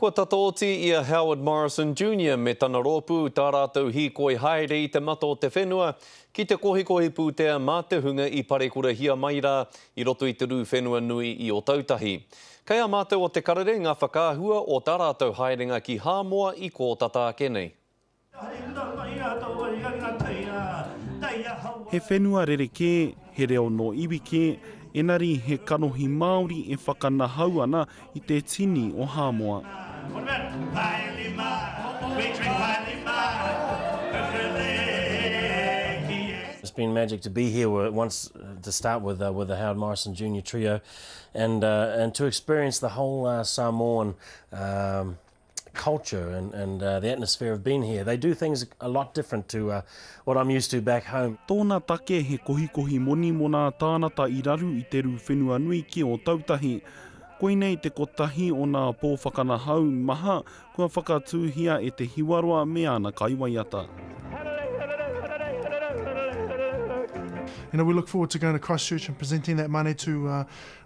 Kua tata oti i a Howard Morrison Junior me tana rōpū tā rātou hīkoi haere i te mata o te whenua ki te kohikohi pūtea mā te hunga i parekurahia mai rā i roto i te rū whenua nui i Otautahi. Kei a mātou o Te Karere ngā whakaahua o tā rātou haerenga ki Hāmoa i kōtata ake nei. He whenua rerekē, he reo nō iwi kē, enari he kanohi Māori e whakanahau ana i te tini o Hāmoa. It's been magic to be here with once to start with uh, with the Howard Morrison Junior Trio, and uh, and to experience the whole uh, Samoan. Um, culture and and uh, the atmosphere of being here. They do things a lot different to uh, what I'm used to back home. Tōna take he kohikohi moni mō nā tānata i raru i te rū whenua nui ki Ōtautahi. Koinei te kotahi o nā pō whakanahau maha kua whakatūhia e te hiwaroa me ana kaiwaiata. you know, we look forward to going to Christchurch and presenting that money to uh,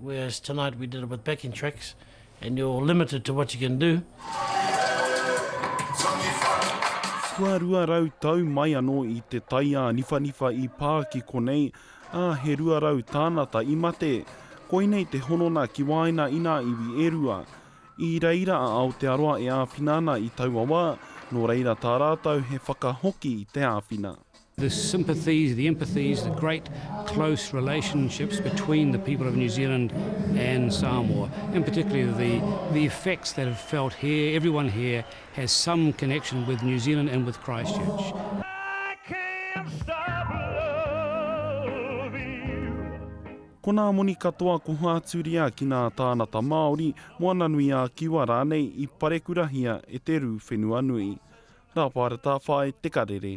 Whereas tonight we did it with backing tracks and you're limited to what you can do. Kua rua rau tau mai anō i te taiāniwhaniwha i pā ki konei, ā, he rua rau tānata i mate. Koinei te honona ki waena i nā iwi e rua. I reira a Aotearoa e āwhina ana i taua wā, nō reira tā rātou he whakahoki i te āwhina. The sympathies, the empathies, the great close relationships between the people of New Zealand and Samoa, and particularly the, the effects that have felt here, everyone here has some connection with New Zealand and with Christchurch. Ko nā moni katoa ko Hāturia ki nā tānata Māori, Moana-nui-ā-Kiwa rānei i parekurahia e te rū whenua nui. Rāpārata Whāi Tekarere.